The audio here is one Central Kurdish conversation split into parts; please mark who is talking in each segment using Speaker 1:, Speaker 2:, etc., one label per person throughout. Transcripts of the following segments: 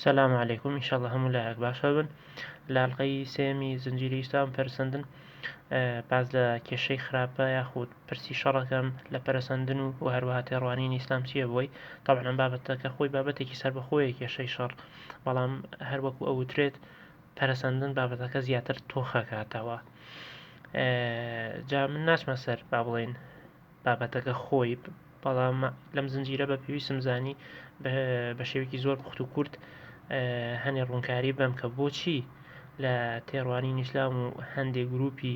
Speaker 1: سلام علیکم ان شاءاللە هەموو لایەک باشە بن لە ئەڵلقەی سێمی زنجیری ئیسلام پەرسەندن باز لە کێشەی خراپە یاخود پرسی شەڕەکەم لە پەرسەندن و و هەروەها تێڕوانین ئیسلام چییە بۆی تاوانم بابەتەکە خۆی بابەتێکی سەر بەخۆیە کێشەی شەڕ بەڵام هەروەکو ئەوترێت پەرسەندن بابەتەکە زیاتر تۆخەکاتەوە جا من ناچمە سەر با بڵین بابەتەکە خۆی بەڵام لەم زنجیرە بە پێویستم زانی بە شێوکی زۆر پوخت و کورت هەنێ ڕوونکاری بەم کە بۆچی لە تێڕوانی نیسلام و هەندێک گروپی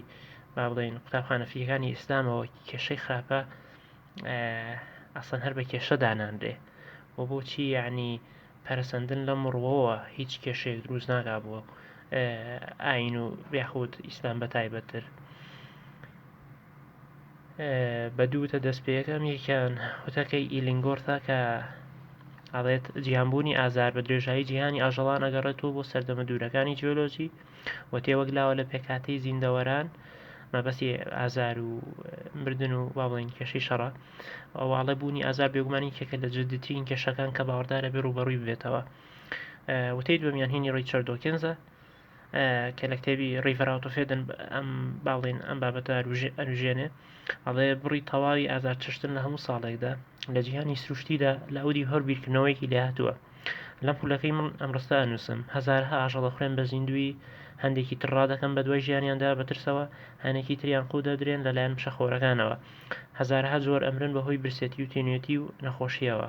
Speaker 1: با بڵین قوتابخانەفیەکانی ئیسلامەوە کێشەی خراپە ئەسەن هەر بە کێشە دانانرێ و بۆچی یعنی پەرسەندن لەم ڕوەوە هیچ کێشەیەک دروست ناگا بووە ئاین و یاخود ئیسلام بە تایبەتتر. بە دوو وتە دەست پێ یەکەم یەکیان وتەکەی ئیلینگۆرثە کە ئەڵێت جیهانبوونی ئازار بە درێژایی جیهانی ئاژەڵان ئەگەڕێتەوە بۆ سەردەمە دوورەکانی جیۆلۆجی و تێوەگلاوە لە پێکهاتەی زیندەوەران مەبەستی ئازار و مردن و با بڵێن کێشەی شەڕە ئەوواڵێ بوونی ئازار بێگومانی کێکە لە جددترین کێشەکان کە باوەڕدارە بێ ڕوبەڕووی بێتەوە وتەی دووەمیان هینی ڕیچارد دۆکنزە کە لە کتێبی ڕیڤراوتۆفێدن ئەم باڵین ئەم بابەتە ئەنوژێنێ ئەڵێ بڕی تەواوی ئازار چشتن لە هەموو ساڵێکدا لە جیهانی سروشتیدا لە ئەودی هەر بیرکردنەوەیەکی لێهاتووە لەم پولەکەی من ئەم ڕستە ئەنووسم هزارها ئاژەڵە خوێن بە زیندوی هەندێکی ترڕا دەکەم بە دوای ژیانیاندا بەترسەوە هەنێکی تریان قو دەدرێن لەلایەن مشەخۆرەکانەوە هزارها زۆر ئەمرن بەهۆی برسێتی و تینوێتی و نەخۆشیەوە.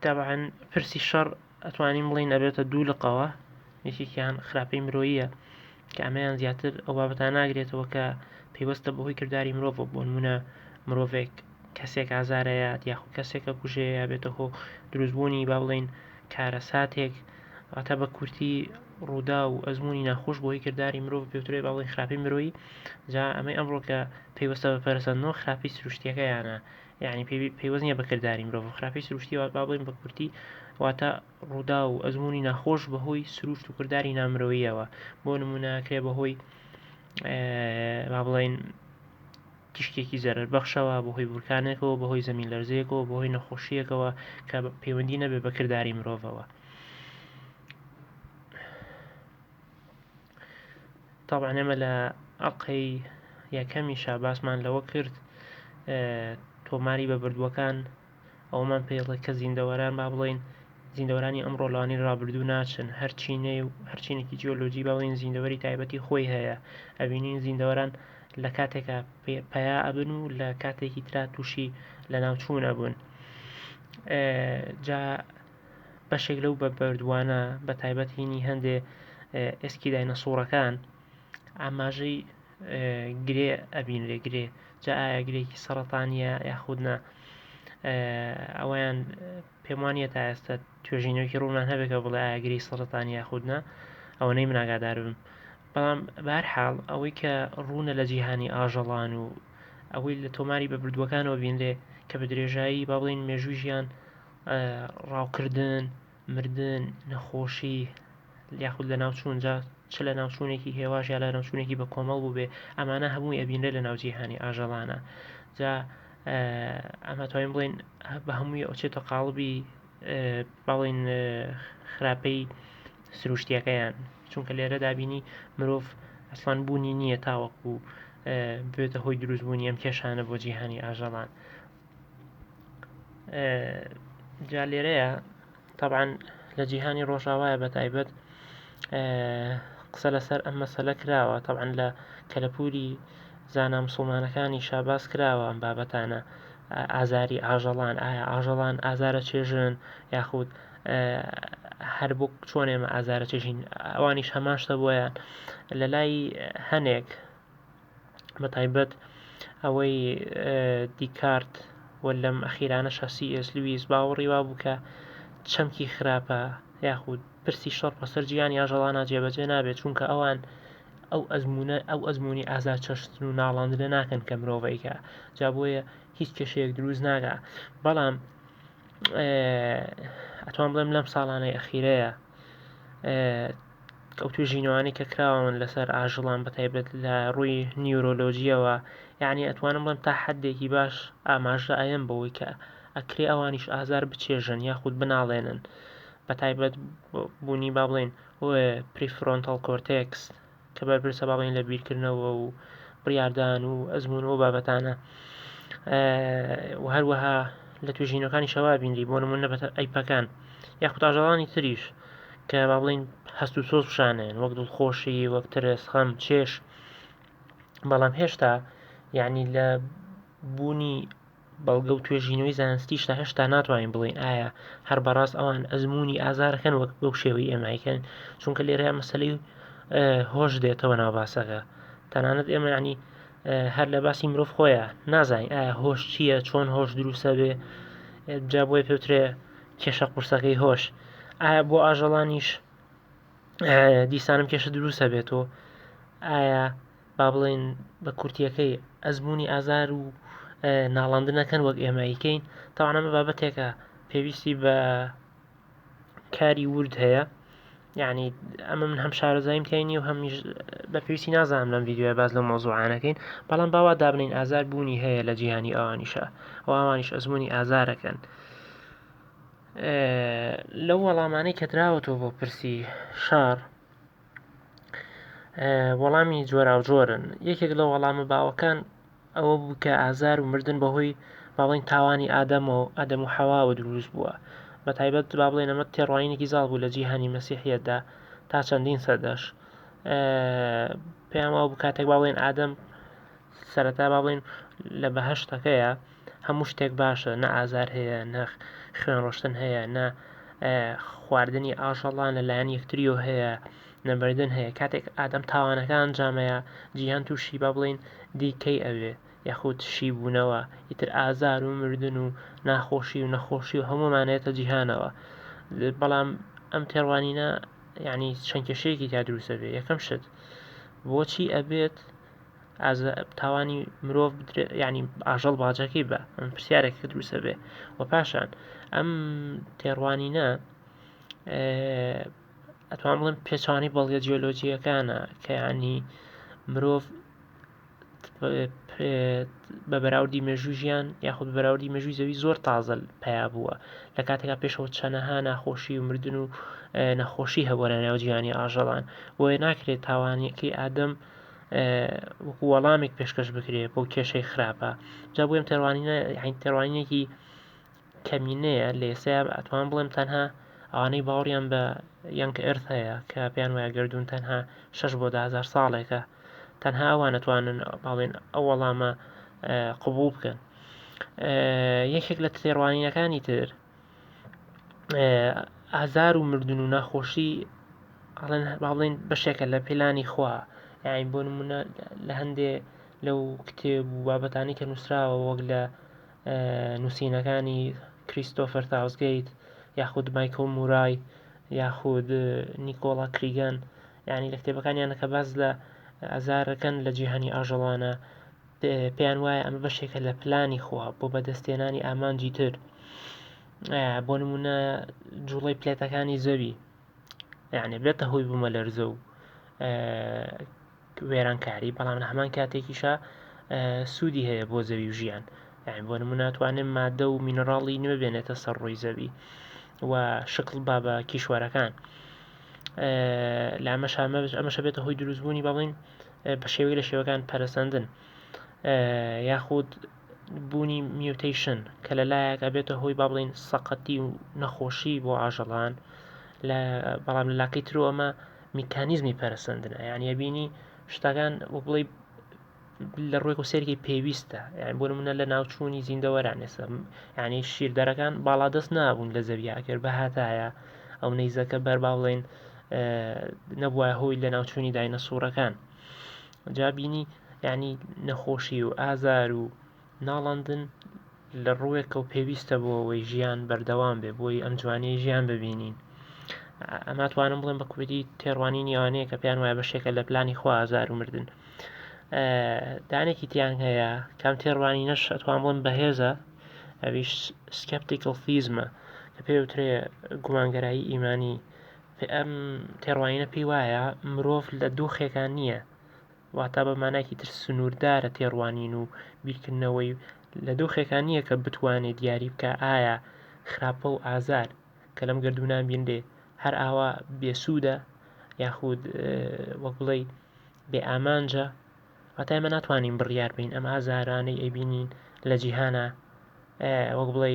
Speaker 1: تەبعەن پرسی شەڕ ئەتوانین بڵین ئەبێتە دوو لقەوە یەکێکیان خراپەی مرۆیە کە ئەمەیان زیاتر ئەو بابەتان ناگرێتەوە کە پەیوەستە بەهۆی کردداری مرۆڤ بۆ نمونە مرۆڤێک کەسێک ئازارەیە دیاخو کەسێکە کوژەیە بێتە هۆ دروستبوونی با بڵین کارە ساتێک ئاتە بە کورتی ڕوودا و ئەزمموی ناخۆش بۆی کردداری مرۆڤ پێوترێ باڵی خراپی مرۆیی جا ئەمەی ئەمڕۆکە پێیوەستە بە پەرسەندنەوە خراپی سروشتیەکەیانە یانی پەیوەست نیە بە کرداری مرۆڤ و خراپی سروشتی وات با بڵێین بە کورتی واتە ڕوودا و ئەزمموی ناخۆش بەهۆی سروشت و کرداری نامرۆیەوە بۆ نمونەکرێ بەهۆی با بڵین تیشکێکی زەرەر بەخشەوە بەهۆی بورکانێکەوە بەهۆی زەمین لەرزەیەکەوە بەهۆی نەخۆشیەکەوە کە پەیوەندی نەبێ بە کرداری مرۆڤەوە. تابان ئێمە لە ئەڵقەی یەکەمی شاباسمان لەوە کرد تۆماری بە بردووەکان ئەومان پێڵێک کە زیندەوەران با بڵین زیندەورانی ئەم ڕۆلانی ڕابردوو ناچن هەرچینەی و هەرچینێکی جیۆلۆجی باڵین زیندەوەری تایبەتی خۆی هەیە ئەبینین زیندەوەران لە کاتێکا پیا ئەبن و لە کاتێکی ترا تووشی لە ناوچوون ئەبوون جا بەشێک لەو بە بەردووانە بە تایبەت هینی هەندێ ئێسکی داینەسوڕەکان ئاماژەی گرێ ئەبین لێ گرێ جا ئایا گرێکی سەرەتانە یاخودنا ئەویان پێم وانە تا ئێستا توێژینەوەکی ڕوونان هەبێکە بڵێ ئاگری سەرەتان یاخودنا ئەوە نەی مناگادار بم بەڵام بار حاڵ ئەوەی کە ڕوونە لە جیهانی ئاژەڵان و ئەوەی لە تۆماری بە بردووەکانەوە بینرێ کە بە درێژایی با بڵین مێژووی ژیان ڕاوکردن، مردن، نەخۆشی یاخود لەناوچوون جا چ لە ناوچوونێکی هێواش یا لە ناوچوونێکی بە کۆمەڵ بووبێ ئەمانە هەمووی ئەبینرێت لە ناو جیهانی ئاژەڵانە جا ئەمە توانین بڵێن بە هەمووی ئەوچێتە قاڵبی بەڵین خراپەی سروشتیەکەیان چونکە لێرە دابینی مرۆڤ ئەسڵان بوونی نییە تاوەکو بێتە هۆی دروستبوونی ئەم کێشانە بۆ جیهانی ئاژەڵان. جا لێرەیە تەبعەن لە جیهانی ڕۆژاوایە بە تایبەت قسە لەسەر ئەم مەسەلە کراوە تەبعەن لە کەلەپوری زانا مسوڵمانەکانیشا باس کراوە ئەم بابەتانە ئازاری ئاژەڵان ئایا ئاژەڵان ئازارە چێژن یاخود هەر بۆ چۆن ئێمە ئازارە چێژین ئەوانیش هەمان شتە بۆیان لە لای هەنێک بە تایبەت ئەوەی دیکارت و لەم ئەخیرانەشە سی ئێس لویس باوەڕی وابوو کە چەمکی خراپە یاخود پرسی شەڕ بەسەر جیان یا ژەڵانە جێبەجێ نابێت چونکە ئەوان ئەو ئەزمونە ئەو ئەزمموی ئازا چەشتن و ناڵاندنە ناکەن کە مرۆڤەیکە جا بۆیە هیچ کێشەیەک دروست ناگا بەڵام ئەتوان بڵێم لەم ساڵانەی ئەخیرەیە ئەو توێژینەوانەی کە کراون لەسەر ئاژەڵان بە تایبەت لە ڕووی نیورۆلۆجیەوە یعنی ئەتوانم بڵێم تا حدێکی باش ئاماژە ئەیەم بەوەی کە ئەکرێ ئەوانیش ئازار بچێژن یاخود بناڵێنن بە تایبەت بوونی با بڵێن پریفرۆنتەڵ کۆرتێکس کە بەرپرسە با بڵێن لە بیرکردنەوە و بڕاردان و ئەزمون و بابەتانە و هەروەها لە توێژینەکانی شەوا بینری بۆ نمونە بە ئەیپەکان یاخود ئاژەڵانی تریش کە با بڵێین هەست و سۆز پیشانێن وەک دڵخۆشی وەک ترس خەم چێش بەڵام هێشتا یعنی لە بوونی بەڵگە و توێژینەوەی زانستیشدا هێشتا ناتوانین بڵین ئایا هەر بەڕاست ئەوان ئەزمموی ئازارەکەن وەک بەو شێوەی ئێمایکەن چونکە لێرە مەسلی و هۆش دێتەوە ناو باسەکە تەنانەت ئێمە ینی هەر لە باسی مرۆڤ خۆیان نازانین ئایا هۆش چییە چۆن هۆش دروستە بێ جا بۆی پێوترێ کێشە قورسەکەی هۆش ئایا بۆ ئاژەڵانیش دیسانم کێشە دروست هەبێتەوە ئایا با بڵێن بە کورتیەکەی ئەزمموی ئازار و ناڵاندنەکەن وەک ئێمەیکەین تاوانەمە بابەتێکە پێویستی بە کاری ورد هەیە یانی ئەمە من هەم شارەزاییم تای نیە و هەمیش بە پێویستی نازانم لەم ڤیددیوە باز لە مۆزوعانەکەین بەڵام باوا دابنین ئازار بوونی هەیە لە جیهانی ئەوانیشە و ئەوانیش ئەزمموی ئازارەکەن لەو وەڵامانەی کە دراوەتەوە بۆ پرسی شار وەڵامی جۆراوجۆرن یەکێک لە وەڵامە باوەکان ئەوە بوو کە ئازار و مردن بە هۆی با بڵێین تاوانی ئادەم و ئادەم و حەواوە دروست بووە بە تایبەت با بڵێن ئەمە تێڕوانینێکی زاڵ بوو لە جیهانی مەسیحیەتدا تا چەندین سەدەش پێیان وا بوو کاتێک با بڵێن ئادەم سەرەتا با بڵێن لە بەهشتەکەیە هەموو شتێک باشە نە ئازار هەیە نەخ خوێن ڕۆشتن هەیە نە خواردنی ئاژەڵان لەلایەن یەکتریۆ هەیە نەمردن هەیە کاتێک ئادەم تاوانەکە ئەنجامەیە جیهان تووشی با بڵین دیکەی ئەوێ یاخود شیبوونەوە ئیتر ئازار و مردن و ناخۆشی و نەخۆشی و هەموومانێتە جیهانەوە بەڵام ئەم تێڕوانینە یعنی چەند کێشەیەکی تا دروستەبێ یەکەم شت بۆچی ئەبێت تاوانی مرۆڤ بدرێت ینی ئاژەڵ باجەکەی بە ئەم پرسیارێک کە دروستە بێ و پاشان ئەم تێڕوانینە ئەتوان بڵێم پێچانی بەڵگە جیۆلۆجییەکانە کە ینی مرۆڤ بە بەراوردی مێژوو ژیان یاخود بەراوردی مێژووی زەوی زۆر تازە پیا بووە لە کاتێکا پێشەوە چەنەها ناخۆشی و مردن و نەخۆشی هەبووە لە ناو جیهانی ئاژەڵان بۆیە ناکرێت تاوانەکەی ئادەم وەکو وەڵامێک پێشکەش بکرێت بۆ کێشەی خراپە جا بۆیم تێڕوانینە تێڕوانینێکی کەمینەیە لە ئێستایا ئەتوانم بڵێم تەنها ئەوانەی باوەڕیان بە یەنگ ئێرث هەیە کە پێیان وایە گەردوون تەنها شەش بۆ دە هەزار ساڵێکە تەنها ئەوان ئەتوانن باڵێن ئەو وەڵامە قبوڵ بکەن یەکێک لە تێڕوانینەکانی تر ئازار و مردن و ناخۆشی ئەڵێن باڵێن بەشێکە لە پێلانی خوا یاین بۆ نمونە لە هەندێ لەو کتێب و بابەتانی کە نووسراوە وەک لە نووسینەکانی کریستۆفەر تاوسگەیت یاخود مایکۆ مورای یاخود نیکۆڵا کریگەن ینی لە کتێبەکانیانە کە باز لە ئازارەکەن لە جیهانی ئاژەڵانە پێیان وایە ئەمە بەشێکە لە پلانی خوا بۆ بەدەستێنانی ئامانجی تر بۆ نمونە جوڵی پلێتەکانی زەوی یعنی بێتە هۆی بوومە لەرزە و وێرانکاری بەڵام لە هەمان کاتێکیشا سوودی هەیە بۆ زەوی و ژیان یعنی بۆ نموو ناتوانێت مادە و مینەڕاڵی نوێ بێنێتە سەر ڕووی زەوی و شکڵ با بە کیشوەرەکان لە ئەمەش ئەمەشە بێتە هۆی دروستبوونی بەڵین بە شێوەی لە شێوەکان پەرسەندن یاخود بوونی میوتەیشن کە لە لایەک ئەبێتە هۆی با بڵین سەقەتی و نەخۆشی بۆ ئاژەڵان بەڵام لە لاکەی ترۆ ئەمە میکانیزمی پەرسەندنە یعنی بینی شتەکان وەک بڵی لە ڕووی و سێرگی پێویستە یان بۆ منە لە ناوچوونی زیندەوەران ئێستا یعنی شیردەرەکان باڵادەست نابوون لە زەویاکرد بەهاتایە ئەو نەیزەکە بەر با بڵێن نەبووە هۆی لە ناوچوونی داینە سوورەکان جا بینی یعنی نەخۆشی و ئازار و ناڵەندن لە ڕووێکەوە پێویستە بۆ ئەوەی ژیان بەردەوام بێ بۆی ئەم جوانیی ژیان ببینین ئەماتوانم بڵێم بە کوردی تێڕوانی نیوانەیە کە پێیان وایە بەشێکە لە پلانی خوا ئازار و مردن دانێکی تیان هەیە کام تێڕوانی نەش ئەتوان بڵم بەهێزە ئەویش سکپتیکل فیزمە کە پێوترێ گومانگەرایی ئیمانی ئەم تێڕوانینە پێی وایە مرۆڤ لە دۆخێکان نییە واتا بە مانایەکی تر سنووردارە تێڕوانین و بیرکردنەوەی لە دۆخێکا نییە کە بتوانێ دیاری بکا ئایا خراپە و ئازار کە لەم گەردوونە بینرێ هەر ئاوا بێسوودە یاخود وەک بڵێی بێ ئامانجە واتا ئێمە ناتوانین بڕیار بین ئەم ئازارانەی ئەبینین لە جیهانە وەک بڵێ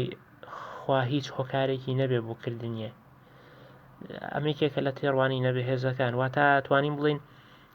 Speaker 1: خوا هیچ هۆکارێکی نەبێ بۆ کردنیە ئەمێکێکە لە تێڕوانی نەبێ هێزەکان واتا توانین بڵین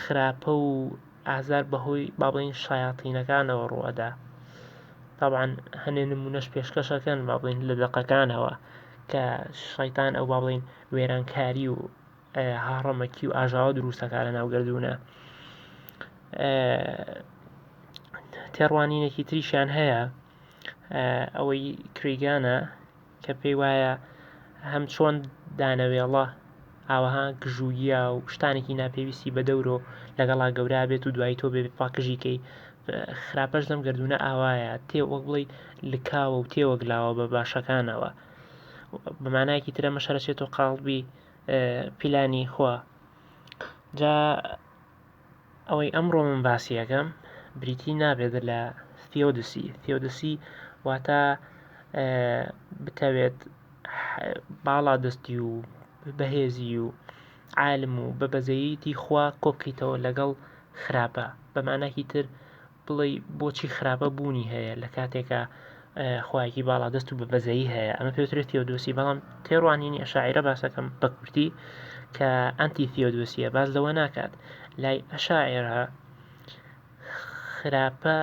Speaker 1: خراپە و ئازار بەهۆی با بڵێین شەیاتینەکانەوە ڕوو ئەدا تابان هەنێ نمونەش پێشکەشەکەن با بڵین لە دەقەکانەوە کە شەیتان ئەو با بڵین وێرانکاری و هاڕەمەکی و ئاژاوە دروستەکە لە ناوگەردونە تێڕوانینێکی تریشیان هەیە ئەوەی کریگانە کە پێی وایە هەمچۆن دانەوێڵە ئاوەها گژوگیا و شتانێکی ناپێویستی بە دەورۆ لەگەڵا گەورا بێت و دوای تۆ بێ پاکژیکەی خراپەش دەم گردونە ئاوایە تێ وەک بڵی لکاوە و تێوەگلاوە بە باشەکانەوە بەمانایەکی ترە مەشەرەچێت و قاڵبی پیلانی خوا جا ئەوەی ئەمڕۆ من باسی ئەکەم بریتی نابێت لە ثیۆدسی ثیۆدسی واتە بتەوێت باڵا دەستی و بەهێزی و عالم و بە بەزەییتی خوا کۆبکەیتەوە لەگەڵ خراپە بەماناکی تر بڵێی بۆچی خراپە بوونی هەیە لە کاتێکا خوایەکی باڵا دەست و بە بەزەیی هەیە ئەمە پێوترێت تێودۆسی بەڵام تێڕوانینی ئەشاعرە باسەکەم بە کورتی کە ئەنتی تیۆدۆسیە باز لەوە ناکات لای ئەشاعێرە خراپە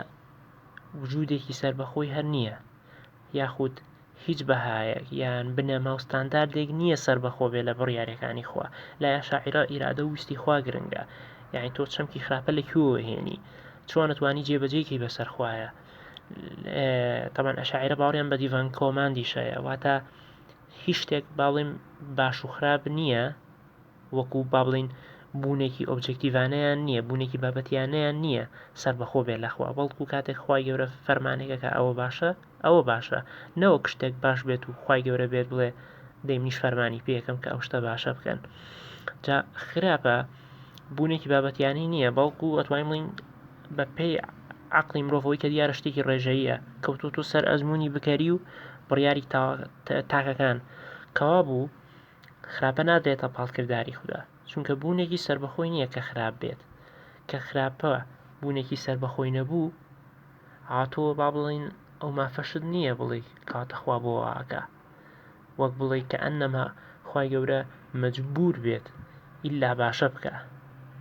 Speaker 1: وجودێکی سربەخۆی هەر نییە یاخود هیچ بەهایەک یان بنەما و ستانداردێک نییە سەربەخۆ بێت لە بڕیارەکانی خوا، لای ئەشاعیرە ئیرادە و ویستی خوا گرنگە، یانی تۆ چەمکی خراپە لە کوێوە هێنی؟ چۆن ئەتوانی جێبەجێی کەی بەسەر خوایە؟ تەبەن ئەشاعیرە باوەڕیان بە دیڤان کۆماندیش هەیە، واتە هیچ شتێک با بڵێین باش و خراپ نییە، وەکو با بڵێین بوونێکی ئۆبجێکتیڤانەیان نییە، بوونێکی بابەتیانەیان نییە سەربەخۆ بێت لە خوا، بەڵکو کاتێک خوای گەورە فەرمانێک ئەکا ئەوە باشە، ئەوە باشە، نەوەک شتێک باش بێت و خوای گەورە بێت بڵێ دەی منیش فەرمانی پێ ئەکەم کە ئەو شتە باشە بکەن. جا خراپە بوونێکی بابەتیانی نییە، بەڵکو ئەتوانین بڵێین بەپێی عەقڵی مرۆڤەوەی کە دیارە شتێکی ڕێژەییە، کەوتووەتە سەر ئەزموونی بکەری و بڕیاری تاکەکان کەوابوو خراپە نادرێتە پاڵ کرداری خودا چونکە بوونێکی سربەخۆی نییە کە خراپ بێت کە خراپە بوونێکی سربەخۆی نەبوو هاتۆ با بڵین ئەو مافەشت نییە بڵێ کاتە خوا بۆ واکە وەک بڵێ کە ئەنەما خی گەورە مەجبور بێت ئللا باشە بکە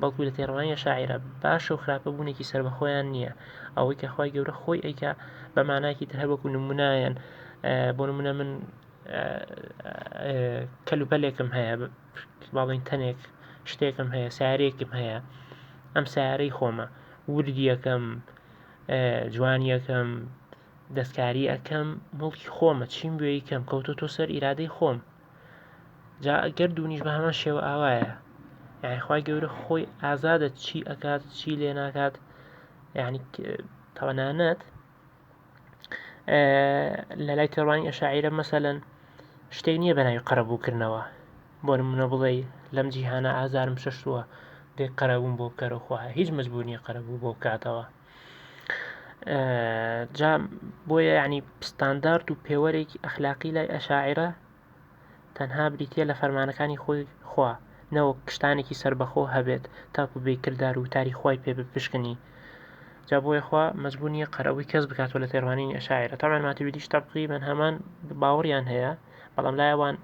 Speaker 1: بەڵکو لە تێڕوانیە شاعرە باشە و خراپە بوونێکی سربەخۆیان نییە ئەوەی کە خی گەورە خۆی ئەیکە بە ماناکی تر هەروەکو نمونایەن بۆ نمونە من کەلوپەلێکم هەیە باڵین تەنێک شتێکم هەیە سارێکم هەیە ئەم سارەی خۆمە وردیەکەم جوانیەکەم دەستکاری ئەەکەم مڵکی خۆمە چیم بۆ یکەم کەوتۆ تۆ سەر ئیرادەی خۆم جا ئەگەر دوونیش بە هەمان شێوە ئاوایە یاخوای گەورە خۆی ئازادە چی ئەکات چی لێ ناکات یعنی تەوانانەت لە لای تێڕوانین ئەشاعیرە مەسەلەن شتێک نییە بە ناوی قەرەبوو کردنەوە بۆ نموونە بڵێی لەم جیهانە ئازارم چەشتووە دێ قەرەبووم بۆ بکەرە خۆ هیچ مەجبوور نییە قەرەبوو بۆ بکاتەوە جا بۆیە یعنی ستاندارد و پێوەرێکی ئەخلاقی لای ئەشاعرە تەنها بریتیە لە فەرمانەکانی خۆی خوا نەوەک شتانێکی سەربەخۆ هەبێت تاکو بێی کردار و وتاری خوای پێ بپشکنی جا بۆیە خوا مەجبور نیە قەرەبووی کەس بکاتەوە لە تێڕوانینی ئەشاعیرە تەبعەن ماتوریدیش تەقریبەن هەمان باوەڕیان هەیە بەڵام لای ئەوان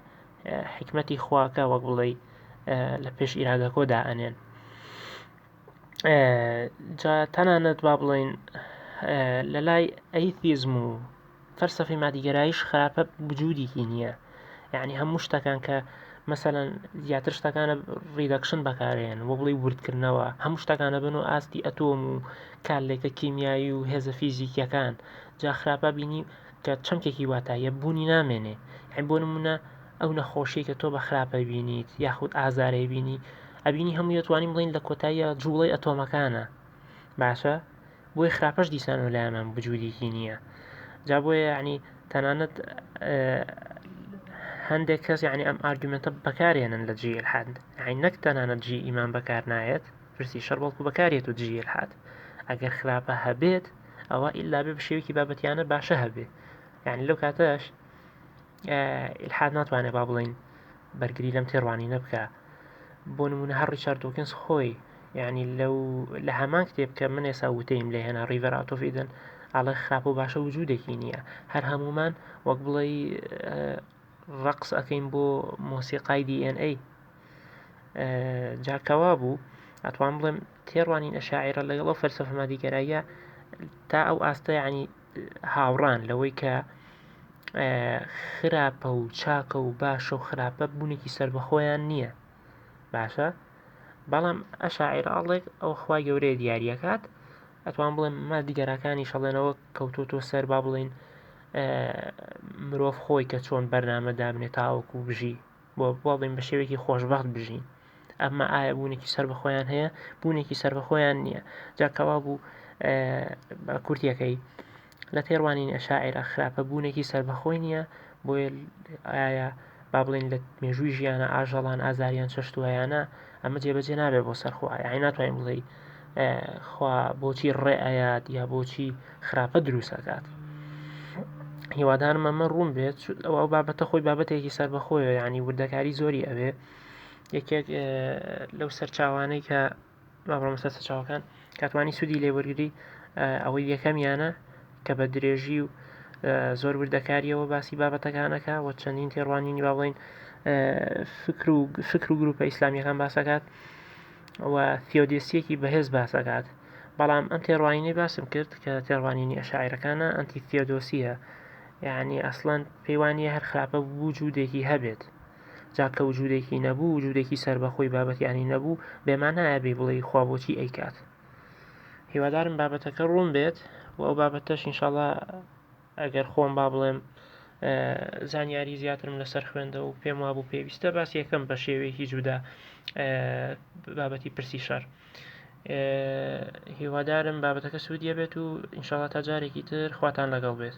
Speaker 1: حیکمەتی خواکە وەک بڵێی لە پێش ئیرادەکۆ دائەنێن جا تەنانەت با بڵێین لە لای ئەیتیزم و فەلسەفەی مادیگەرایش خراپە وجودێکی نییە یعنی هەموو شتەکان کە مەسەلەن زیاتر شتەکانە ڕیدەکشن بەکارێن بۆ بڵی وردکردنەوە هەموو شتەکانە بن و ئاستی ئەتۆم و کارلێکە کیمیایی و هێزە فیزیکیەکان جا خراپە بینی کە چەمکێکی واتایە بوونی نامێنێ هەم بۆ نمونە ئەو نەخۆشیەی کە تۆ بە خراپ ئەبینیت یاخود ئازارەی بینی ئەبینی هەمووی دەتوانین بڵین لە کۆتاییە جوڵەی ئەتۆمەکانە باشە بۆی خراپەش دیسان و لایەنان بجوودیکی نییە جا بۆیە یعنی تەنانەت هەندێک کەس یعنی ئەم ئارگومنتە بەکارێنن لە جیل حد عین نەک تەنانەت جی ئیمان بەکار نایەت پرسی شەر بەڵکو بەکارێت و جیل حد ئەگەر خراپە هەبێت ئەوە ئللا بێ بە شێوکی بابەتیانە باشە هەبێ یعنی لەو کاتەش ئیلحاد ناتوانێ با بڵین بەرگری لەم تێڕوانینە بکە بۆ نمونە هەر ڕیچارد دۆکنز خۆی یعنی لەو لە هەمان کتێب کە من ئێسا وتەیم لە هێنا ڕیڤەر ئاتۆفیدن ئاڵێ خراپە و باشە وجودێکی نییە هەر هەمومان وەک بڵێ ڕقس ئەەکەین بۆ مۆسیقای DNA جاکەوا بوو ئەتوان بڵێم تێڕوانین ئەشاعرە لەگەڵ ئەو فەرسەفەمادیگەرایە تا ئەو ئاستە ینی هاوڕان لەوەی کە خراپە و چاکە و باشە و خراپە بوونێکی سربەخۆیان نییە باشە بەڵام ئەشاعراڵێک ئەو خخوای گەورەیە دیارریەکات ئەتوان بڵێن مادیگەراکانی شەڵێنەوە کەوتۆتۆ سەر با بڵین مرۆڤ خۆی کە چۆن بەرنامە دابنێ تاوەکو بژی بۆ بڵێن بە شێوەیەکی خۆشببخت بژین ئەمە ئایا بوونێکی سەر بە خۆیان هەیە بوونێکی سەر بە خۆیان نییە جاکەوا بوو بە کورتەکەی لە تێڕوانین ئەشاعرا خراپە بوونێکی سەر بەخۆی نییە بۆیە ئایا با بڵێن لە مێژووی ژیانە ئاژەڵان ئازاریان چەشتووەیانە ئەمە جێبەجێ نابێت بۆ سەرخۆیان ناتوانین بڵێ خوا بۆچی ڕێ ئەیات یا بۆچی خراپە دروست ئەکات هیوادارم ئەمە ڕوون بێت ئەوە بابەتە خۆی بابەتێکی سربەخۆیە ینی وردەکاری زۆری ئەوێ یەکێک لەو سەرچاوانەی کە مامەسەر سەرچاوەکان کاتوانی سوودی لێ وەرگری ئەوەی یەکەمیانە کە بە درێژی و زۆر وردەکاریەوە باسی بابەتەکانەکە و چەندین تێڕوانینی باڵین فکر و فکر و گروپە ئیسلامیەکان باسەکات و ثیۆدیستییەکی بەهێز باس ئەکات، بەڵام ئەم تێڕوانینەی باسم کرد کە تێڕوانینی ئەشاعیرەکانە ئەنتی ثیۆدۆسییە، یەعنی ئەسڵەن پێی وا نییە هەر خراپە وجودێکی هەبێت، جا کە وجودێکی نەبوو، وجودێکی سەربەخۆی بابەتیانی نەبوو، بێ مانایە بێی بڵێی خوا بۆچی ئەیکات؟ هیوادارم بابەتەکە ڕوون بێت و ئەو بابەتەش ئینشاڵا. ئەگەر خۆم با بڵێم زانیاری زیاترم لەسەر خوێندە و پێم وابوو پێویستە باسی یەکەم بە شێوەیەکی جودا بابەتی پرسی شەر هیوادارم بابەتەکە سوودیە بێت و ئینشاڵات تا جارێکی تر خواتان لەگەڵ بێت